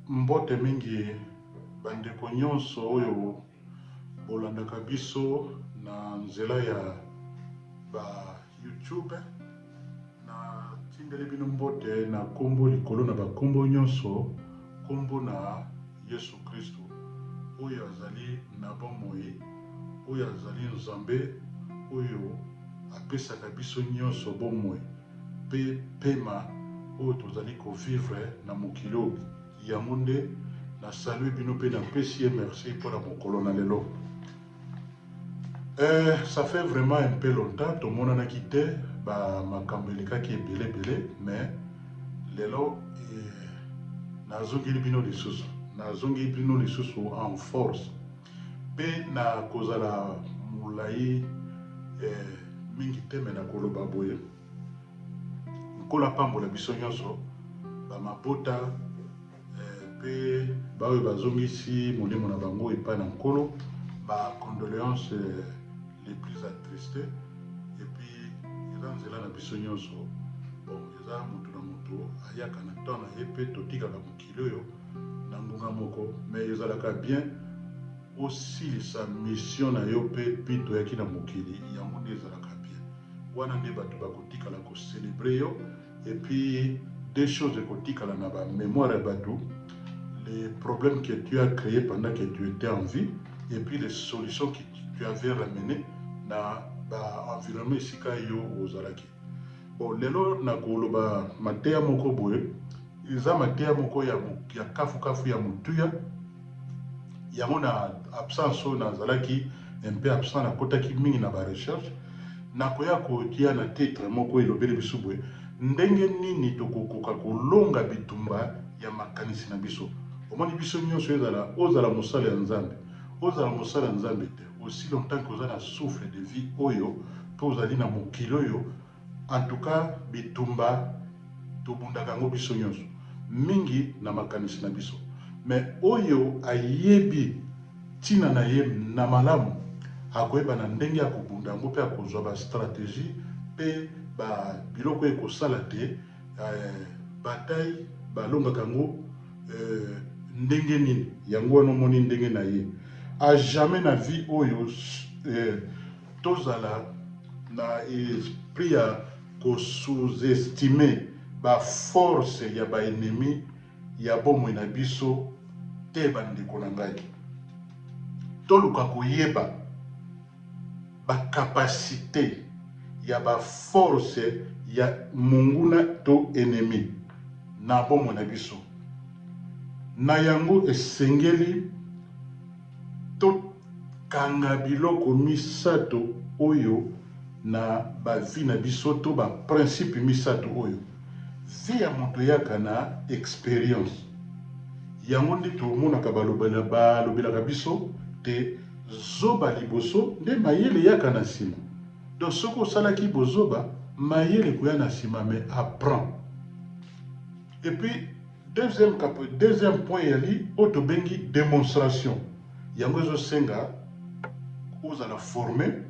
Mbote mingi ba ndeko nionso oyo bolandaka biso na nzela ya ba YouTube. Na tindeli bino mbote na kombo likolo na ba kombo nionso, kombo na Yesu Kristu oyo azali na bomoi, oyo azali Nzambe oyo apesaka biso nionso bomoi. pe pema oyo tozali ko vivre na mokili oyo yango nde na salue bino pe na pesi ye merci pona mokolo na lelo eh ça fait vraiment un peu longtemps tomonanaki te ba makambo elekaki ebele ebele mais lelo eh, nazongeli bino lisusu nazongeli bino lisusu en force Pe na kozala molai eh, mingi te, mais na koloba boye, Nkolo apambola biso nyonso, ba mabota eh, pe baoyo bazongisi molimo na bango epai na Nkolo, ba condoleances eh, les plus attristes. Et puis, eza nzela na biso nyonso. Bon, eza moto na moto ayaka na temps na ye, pe totikaka moke. Kilo yo na ngonga moko mais ezalaka bien osilisa mission na yo pe pite oyaki na mokili yango nde ezalaka bien wana nde batu bakotikala ko celebrer yo et puis deux choses ekotikala na ba memoire ya batu les problèmes que tu as cree pendant que tu etais en vie et puis les solutions que tu avais ramene na ba environnement esika yo ozalaki. Bon lelo nako loba mateya moko boye eza mateya moko ya kafu kafu ya motuya yango na absence oyo na zalaki un peu absent na kotaki mingi na ba recherche nako ya kotia na titre moko elobeli biso boye ndenge nini toko koka ko longa bitumba ya makanisi na biso omoni biso nionso ezala ozala mosali ya nzambe ozala mosali ya nzambe te aussi longtemps que oza na souffle de vie oyo pe ozali na mokili oyo en tout cas bitumba tobundaka yango biso nionso mingi na makanisi na biso mais oyo ayebi tina na ye na malamu akoyeba na ndenge ya kobunda yango pe akozua ba strategie pe ba biloko oyo ekosala te Eeh bataille ba longaka yango eeh ndenge nini? Yango wana omoni ndenge naye a jamais na vie oyo eeh tozala na esprit ya ko sous estimer ba forces ya ba ennemis ya bomoi na biso te ba ndeko na ngai. Toluka koyeba. ba capacite ya ba force ya monguna to ennemi na bomoi na biso. Na yango, esengeli tokanga biloko misato oyo na ba vie na biso to ba principe misato oyo, vie ya moto eyaka na experience, yango nde tomonaka balobelaka biso te, Zoba liboso nde mayele eyaka na sima donc soki osalaki bozoba mayele ekoya na sima mais apprend et puis deuxième deuxième point eyali oyo tobengi demonstration yango ezo senga ozala forme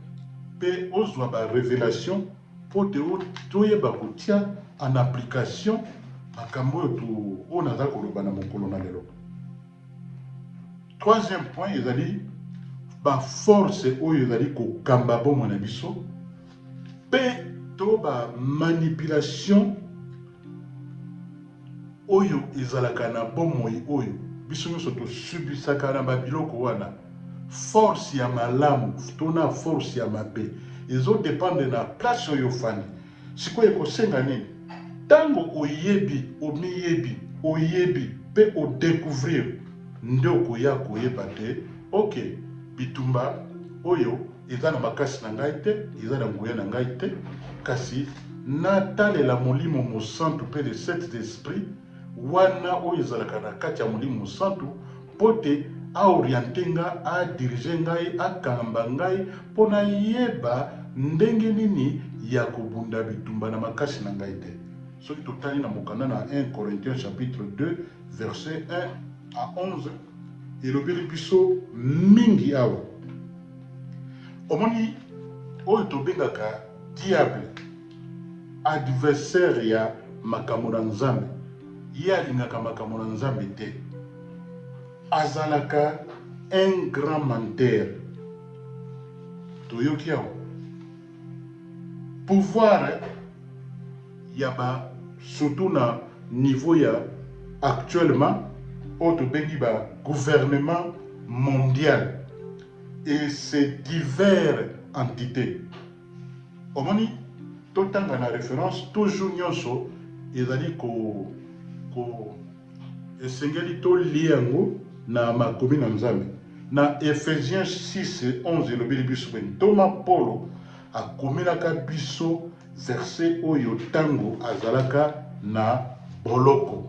pe ozwa ba revelation po te toyeba kotia en application makambo oyo oyo naza koloba na mokolo na lelo. Troisième point ezali ba forces oyo ezali kokamba bomoi na biso mpe to ba manipulation oyo ezalaka na bomoi oyo biso nyonso tosubisaka na ba biloko wana force ya malamu to na force ya mabe ezo dependre na place oyo ofandi Sikoyo ekosenga nini? Tango oyebi, omiyebi, oyebi pe o decouvrir nde okoya koyeba te ok bitumba oyo eza na makasi na ngai te, eza na nguya na ngai te kasi na talela Molimo Mosantu pe les sept esprits wana oyo ezalaka na kati ya Molimo Mosantu, Mpo te a orienter nga, a diriger ngai, akamba ngai mpo nayeba ndenge nini ya kobunda bitumba na makasi na ngai te. Soki totali na mokanda na un Corinthiens chapitre 2 verset 1 à 11, elobeli biso mingi awa. Omoni oyo tobengaka diable. Adversaire ya makambo na Nzambe. Ye alingaka makambo na Nzambe te. Azalaka un grand menteur. Toyoki awa? Pouvoir ya ba surtout na niveau ya actuellement oyo tobengi ba gouvernement mondial et ses divers entites. Omoni? Totanga na reference toujours nionso ezali ko ko esengeli to lier yango na makomi na Nzambe. Na Ephesiens six, onze elobeli biso boye, Ntoma Polo akomelaka biso verse oyo tango azalaka na boloko.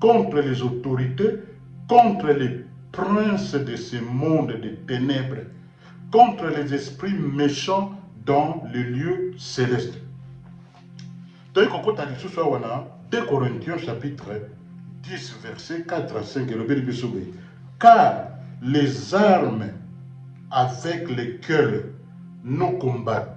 contre les autorites, contre les princes de ce monde de tenèbres, contre les esprits mechants dans les lieux celestes. Toyei kokota lisusu awa na 2 Corinthiens chapitre 10 verset 4 à 5 elobeli biso boye car les armes avec lesquelles nous combattons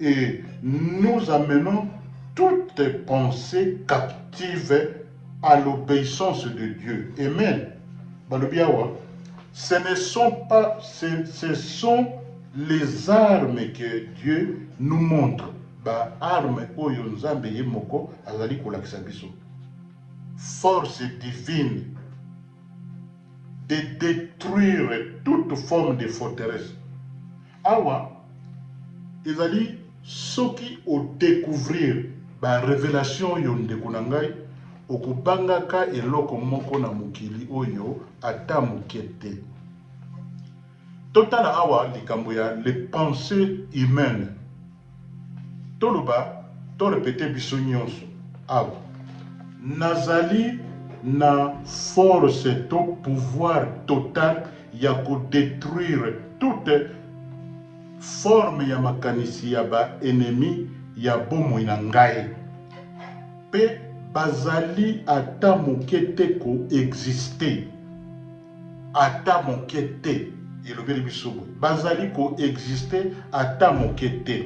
Et nous amenons toute pensee captive à l'obeissance de Dieu. Amen. Balobi awa, ce ne sont pas, ce, ce sont les armes que Dieu nous montre. Ba armes oyo Nzambe ye moko azali kolakisa biso. Force divine de détruire toute forme de forteresse. Awa ezali soki o decouvrir ba revelation oyo ndeko na ngai okobanga ka eloko moko na mokili oyo ata moke te. Totala awa likambo ya les pensees humaines. Toloba, to repeter biso nionso awa, Nazali na force to pouvoir total ya ko detruire toute forme ya makanisi ya ba ennemis ya bomoi na ngai, mpe bazali ata moke te ko exister. Ata moke te. Elobeli biso boye, bazali ko exister ata moke te.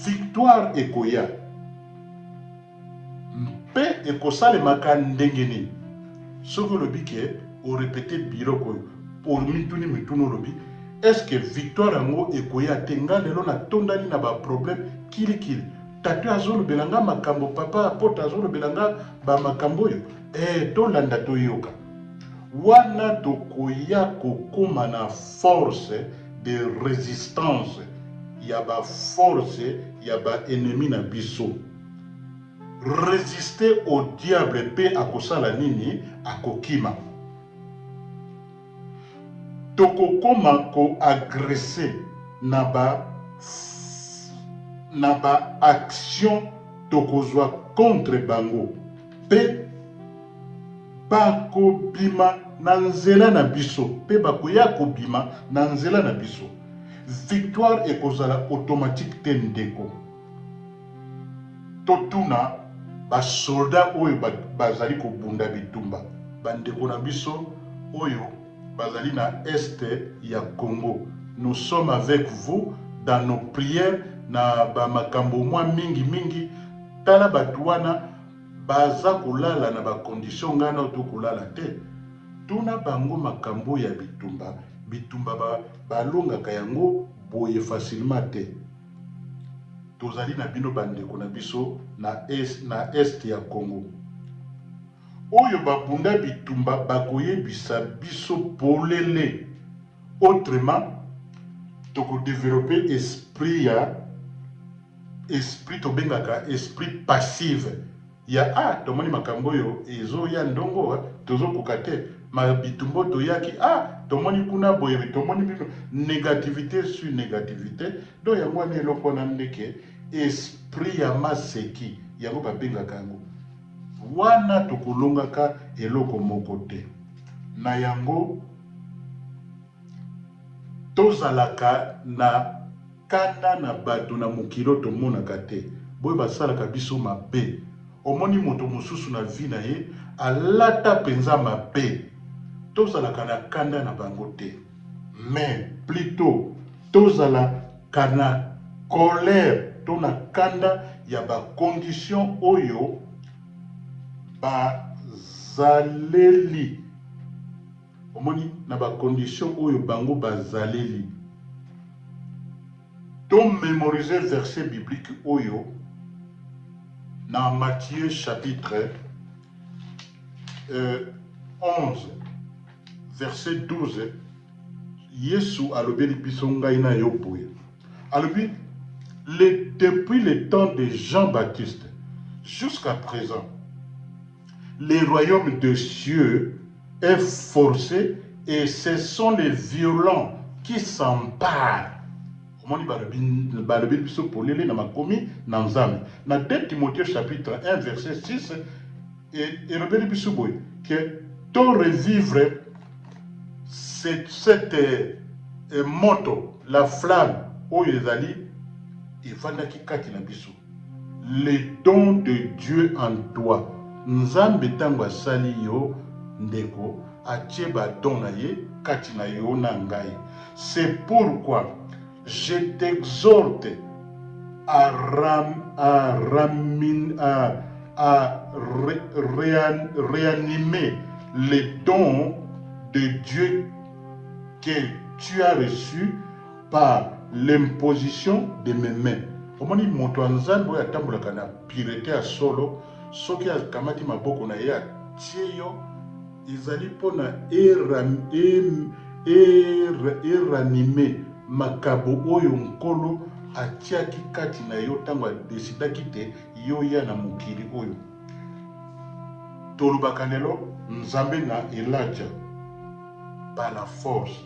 Victoire ekoya. Mpe ekosalemaka ndenge nini? Soki olobi ke o repeter biloko oyo, omituni mituna olobi, est-ce que victoire yango ekoya te? Nga lelo natondani na ba problèmes kili kili. Tatoe azolobela nga makambo, papa Apotre azolobela nga ba makambo oyo. Ee, tolanda toyoka. Wana tokoya kokoma na force de resistance ya ba forces ya ba ennemis na biso. Resister au diable mpe akosala nini? Akokima. Tokokoma ko agresser na ba na ba actions tokozwa contre bango. Mpe bakobima na nzela na biso, mpe bakoya kobima na nzela na biso. Victoire ekozala automatique te ndeko. Totuna basolda oyo bazali kobunda bitumba, bandeko na biso oyo bazali na Est ya Congo, nous sommes avec vous dans nos prières na ba makambo mwa mingi mingi, Tala batu wana baza kolala na ba condition ngai nao to kolala te tuna bango makambo oyo ya bitumba bitumba ba balongaka yango boye facilement te tozali na bino ba ndeko na biso na est na est ya Congo oyo ba bunda bitumba bakoyebisa biso polele autrement toko developper esprit ya esprit tobengaka esprit passive ya ah tomoni makambo oyo ezo ya ndongo tozo koka te ma bitumba oyo toyaki ah tomoni kuna boye tomoni bino negativite sur negativite donc yango wana eloko wana nde ke esprit ya maseki yango babengaka yango wana tokolongaka eloko moko te na yango tozalaka na Kanda na bato na mokili oyo tomonaka te, boye basalaka biso mabe. Omoni moto mosusu na vie na ye alata mpenza mabe, tozalaka na kanda na bango te, mais plutot tozala ka na colère to na kanda ya ba conditions oyo bazaleli. Omoni na ba conditions oyo bango bazaleli. To memoriser verset biblique oyo na Matthieu chapitre euh 11 verset 12 Yesu alobeli biso ngai na yo boye. Alobi le depuis le temps de Jean Baptiste jusqu'à present le royaume de cieux est force et ce sont les violents qui s'emparent omoni balobi balobi biso polele na makomi na nzambe na de timotheo chapitre 1 verset 6 e, elobeli biso boye que to revivre cette, cette e, moto la flamme oyo ezali efandaki kati na biso Le don de Dieu en toi nzambe tango asali yo ndeko atie ba don na ye kati na yo na ngai c'est pour quoi je t'exhorte à reanimer le don de Dieu que tu as reçu par l'imposition de mes mains omoni moto ya nzambe oyo atambolaka na purete ya solo soki akamati maboko na ye atie yo ezali mpo na eranime makabo oyo nkolo atiaki kati na yo ntango adesidaki te yo oya na mokili oyo tolobaka lelo nzambe na elijah par la force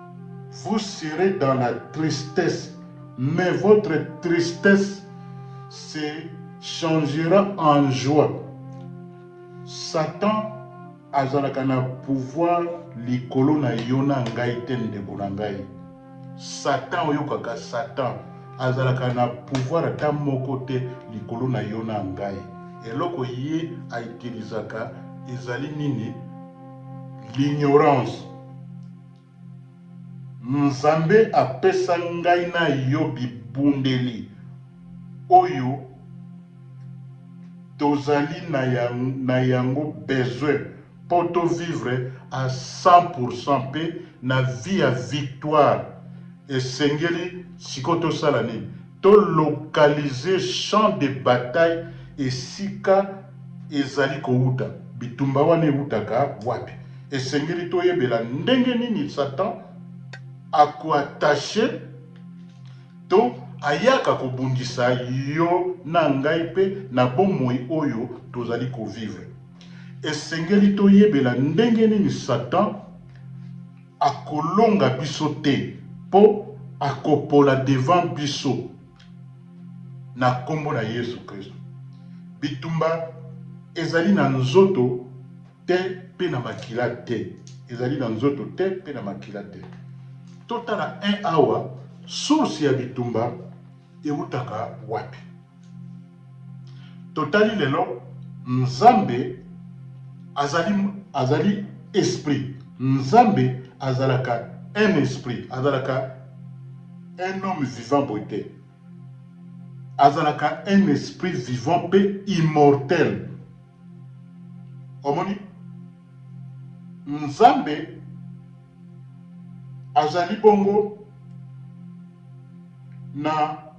Vous serez dans la tristesse mais votre tristesse se changera en joie. Satan azalaka na pouvoir likolo na yo na ngai te ndeko na ngai. Satan oyokaka Satan azalaka na pouvoir ata moko te likolo na yo na ngai. Eloko ye a utilisaka ezali nini? L'ignorance. Nzambe apesa ngai na yo bibundeli oyo tozali na yango besoin po to vivre a 100 pourcent pe na vie ya victoire. Esengeli sikoyo tosala nini? To localiser champ de bataille esika ezali kowuta bitumba wana ewutaka wapi? Esengeli toyebela ndenge nini Satan a ko attacher to ayaka kobundisa yo na ngai mpe na bomoi oyo tozali ko vivre. Esengeli toyebela ndenge nini Satan. akolonga biso te po akopola devant biso na kombo na yesu christo bitumba ezali na nzoto te pe na makila te ezali na nzoto te pe na makila te totala un awa source ya bitumba ewutaka wapi. Totali lelo, Nzambe azali, azali Esprit. Nzambe azalaka un esprit, azalaka un homme vivant boye te. Azalaka un esprit vivant pe immortel. Omoni? Nzambe Azali bongo na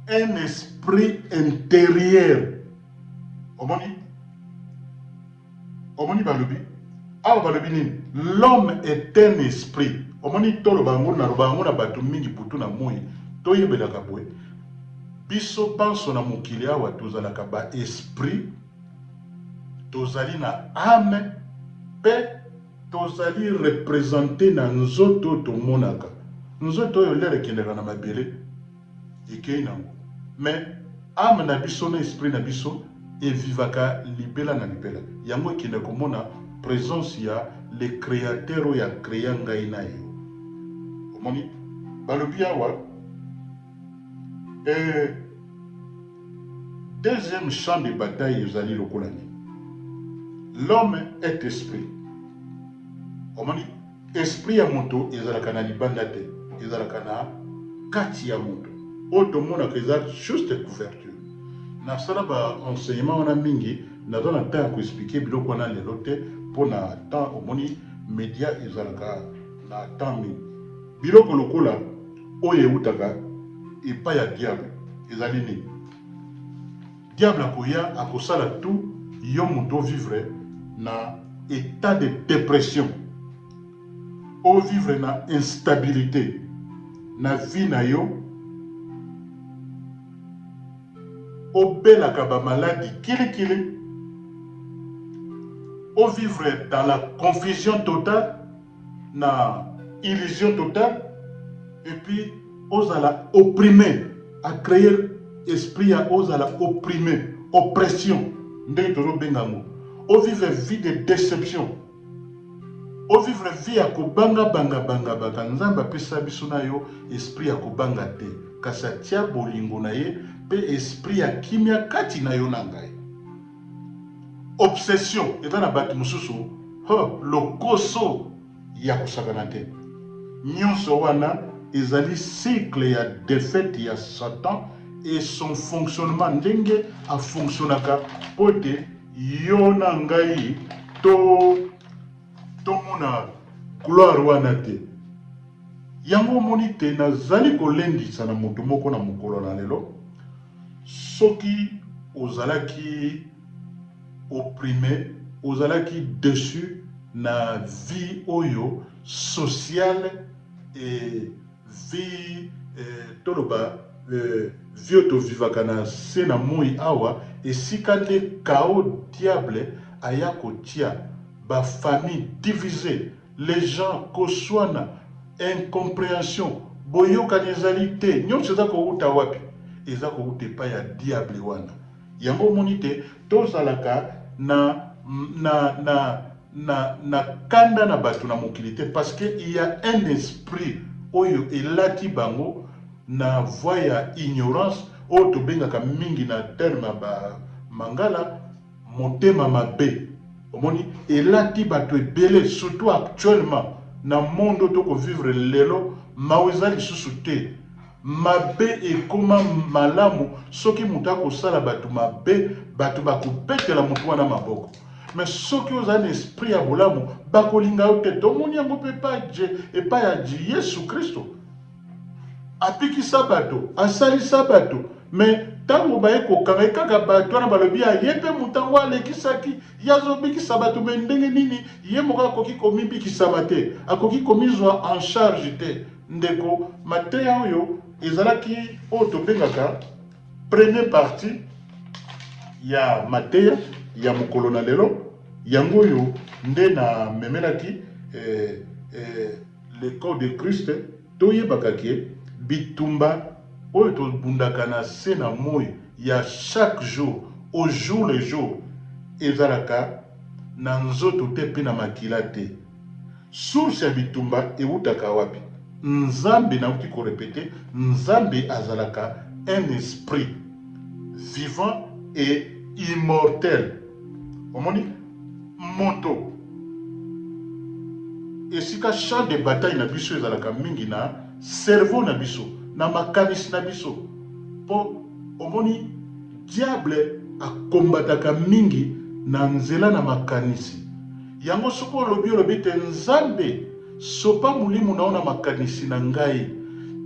un esprit interieur. Omoni? Omoni balobi? Awa balobi nini? L'homme est un esprit. Omoni toloba yango naloba yango na bato mingi butu na moi toyebelaka boye biso banso na mokili awa tozalaka ba esprit tozali na ame mpe Tozali representer na nzoto oyo tomonaka. Nzoto oyo lere ekendaka na mabele, ekeyi nango. Mais ame na biso na esprit na biso e vivaka libela na libela. Yango ekendaka komona presence ya le createur oyo a crea ngai na yo. Omoni? Balobi awa eh. Deuxième champ de bataille ezali lokola nini? L'homme est esprit. Omoni, esprit ya moto ezalaka na libanda te, ezalaka na kati ya moto. Oyo tomonaka eza juste couverture. Nasala ba enseignement wana mingi, naza na temps ya ko expliquer biloko wana lelo te mpo na temps. Omoni media ezalaka na temps mingi. Biloko lokola Oyo eutaka epai ya Diable ezali nini? Diable akoya akosala tout yo mutu o vivre na etat de depression, o vivre na instabilite na vie na yo, obelaka ba maladi kili kili, o vivre dans la confusion totale. na illusion totale et puis ozala opprime a cree esprit ya ozala opprime oppression ndenge tozo benga yango o vivre vie de deception o vivre vie ya kobanga banga banga banga nzambe apesa biso na yo esprit ya kobanga te kasi atia bolingo na ye mpe esprit ya kimia kati na yo na ngai Obsession eza na batu mususu huh lokoso ya kosakana te. Nionso wana ezali cycle ya defaite ya satan et son fonctionnement ndenge a fonctionaka po ete yo na ngai to tomona gloire wana te. Yango omoni te nazali kolendisa na mutu moko na mokolo na lelo, Soki ozalaki opprimer, ozalaki deçu na vie oyo sociale et vie toloba vie oyo to vivaka na se na moyi awa, esika nde chaos diable aya kotia ba famille divise. Les gens koswana, incomprehension, boyokani ezali te, nionso eza kowuta wapi? Eza kowuta epai ya diable wana. Yango omoni te tozalaka na na na na na kanda na batu na mokili te parce que il ya un esprit oyo elati bango na voie ya ignorance oyo tobengaka mingi na terme ya ba mangala Motema mabe omoni elati batu ebele surtout actuellement na monde oyo to ko vivre lelo mawa eza lisusu te mabe ekoma malamu soki mutu ako sala batu mabe batu bako betela mutu wana maboko mais soki ozali na esprit ya bolamu bako linga yo te tomoni yango pe epai ya Yesu Christo. Abikisa bato, asalisa bato, mais tango baye kokanga ye kaka bato wana balobi ah ye pe moto yango alekisaki, ye azo bikisa bato mais ndenge nini ye moko akoki komibikisama te, akoki komizua en charge te. Ndeko, mateya oyo ezalaki oyo tobengaka premier partie ya mateya ya mokolo na lelo, yango oyo nde na memelaki eh, eh, Le corps de Christ, to yebaka que bitumba oyo to bundaka na se na moyi ya chaque jour au jour le jour ezalaka na nzoto te pe na makila te. Source ya bitumba ewutaka wapi? Nzambe, nawuti ko repeter, Nzambe azalaka un esprit vivant et immortel. Omoni? Moto. Esika champ de bataille na biso ezalaka mingi na cerveau na biso, na makanisi na biso. Po, omoni, Diable a combataka mingi na nzela na makanisi. Yango soki olobi, olobi ete, Nzambe, sopa molimo na yo na makanisi na ngai.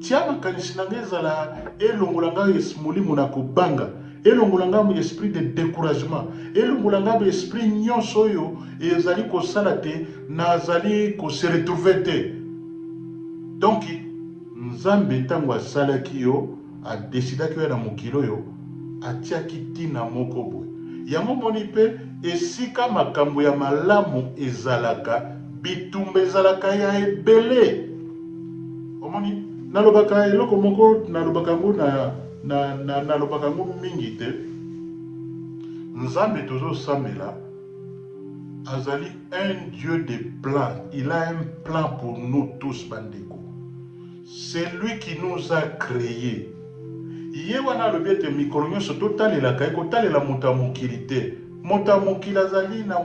Tia makanisi na ngai ezala elongola ngai molimo na kobanga. Elongola ngai ba esprit de decouragement, elongola ngai ba esprit nionso oyo ezali kosala te nazali ko se retrouver te. Donc Nzambe ntango asalaki yo, a decidaki oya na mokili oyo, atiaki ntina moko boye. Yango omoni mpe esika makambo ya malamu ezalaka, bitumba ezalaka ya ebele. Omoni? Nalobaka eloko moko, nalobaka yango na. Na, na, nalobaka yango mingi te, Nzambe tozosambela azali un Dieu de plan, il a un plan pour nous tous, bandeko. C'est lui qui nous a cree. Ye wana alobi ete mikolo nyonso totalelaka ye, kotalela moto ya mokili te. Moto ya mokili azali na,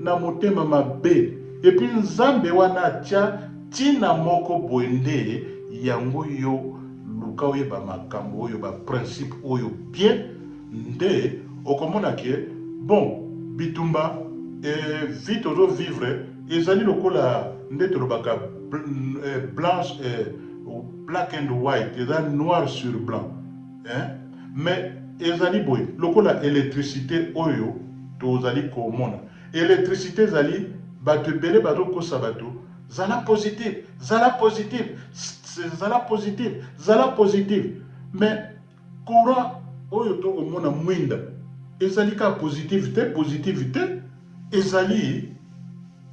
na motema mabe. Epuis Nzambe wana atia ntina moko boye nde yango yo Luka oyeba makambu oyo ba principe oyo bien nde okomona ke bon bitumba et vie tozo vivre ezali lokola nde tolobaka blanche et black and white eza noir sur blanc hein mais ezali boye lokola electricite oyo tozali komona electricite ezali batu ebele bazo kosa batu Zala positive, zala positive, sssss zala positive, zala positive mais courant oyo to ko mona muinda ezali kaka positive te, positive te ezali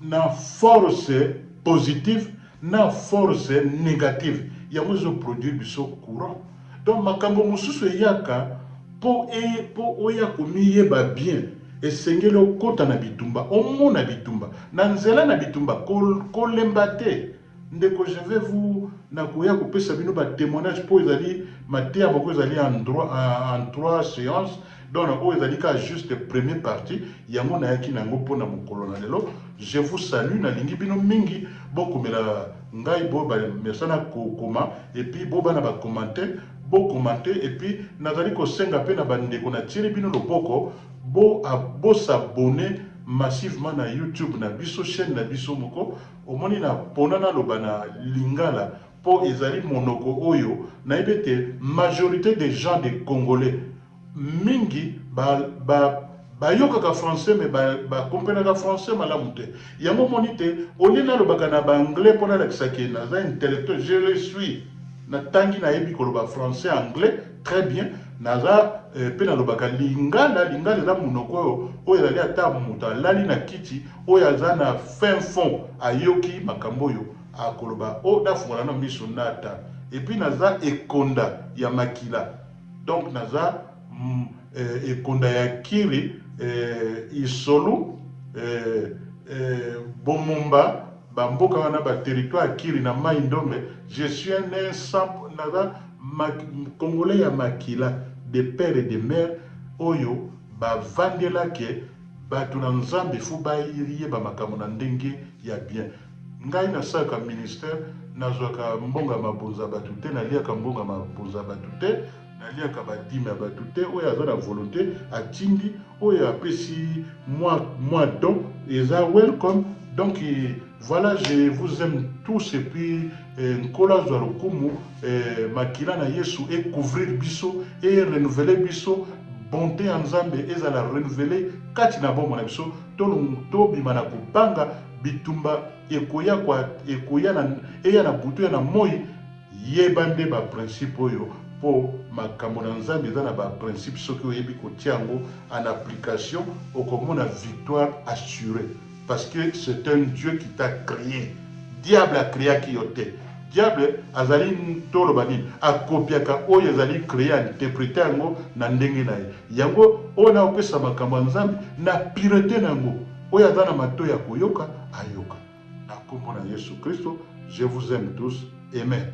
na force positive na force negative yango ezo produire biso courant. Donc makambo mosusu eyaka po e po oya komiyeba bien esengeli okota na bitumba omona bitumba na nzela na bitumba ko kolemba te ndeko je vais vous nakoya kopesa bino ba temoignage po ezali mateya moko ezali en droit en en trois seance Donc na oyo ezali kaka juste premier partie yango nayaki na yango pona mokolo na lelo je vous salut na lingi bino mingi bo komela ngai bo ba mesana ko koma et puis bo bana ba commente bo commente et puis na zali ko senga pe na ba ndeko na tieli bino loboko bo a bo s'abonner massivement na youtube na biso chaine na biso moko omoni na pona na loba na lingala po ezali monoko oyo nayebi ete majorite des gens des congolais mingi ba ba bayokaka français mais ba ba comprenaka français malamu te yango omoni te au lieu nalobaka na ba anglais po nalakisa ke naza intellectuel je le suis natangi nayebi koloba français anglais très bien naza eh, pe nalobaka lingala lingala eza monoko oyo oyo ezali ata moto alali na kiti oyo aza na fin fond ayoki makambo oyo Akoloba oh nafungola nanu miso nata epuis naza ekonda ya makila donc naza eh ekonda ya kiri eh isolu eh eh bomumba ba mboka wana ba territoire ya kiri na mayi ndombe je suis un eh sans naza congolais ya makila de père et de mère oyo ba vandela ke batu na nzambe faut ba yeba makambo na ndenge ya bien. Ngai na salaka ministère nazwaka mbonga mabonza batu te na liaka mbonga mabonza batu te na liaka ba dime ya batu te oyo aza na volonte atindi oyo apesi mwa mwa don eza welcome donc voilà je vous aime tous et puis eh, nkolo azwa lokumu eh, makila na yesu e couvrir biso e renouveler biso bonte ya nzambe ezala renouveler kati na bomoi na biso Tolo to bima na ko banga bitumba ekoya kwa ekoya na eya na butu eya na moyi yeba nde ba principe oyo po makambo na nzambe eza na ba principe soki oyebi ko tia yango en application oko mona victoire assure parce que c'est un Dieu qui t'a cree diable a creaki yo te Diable azali toloba nini? A copiaka oyo ezali cree a interpreter yango na ndenge na ye. Yango oyo na kopesa makambo ya Nzambe na purete na yango. Oyo aza na matoyi ya koyoka ayoka. Na kombo na Yesu Kristo, je vous aime tous. Amen.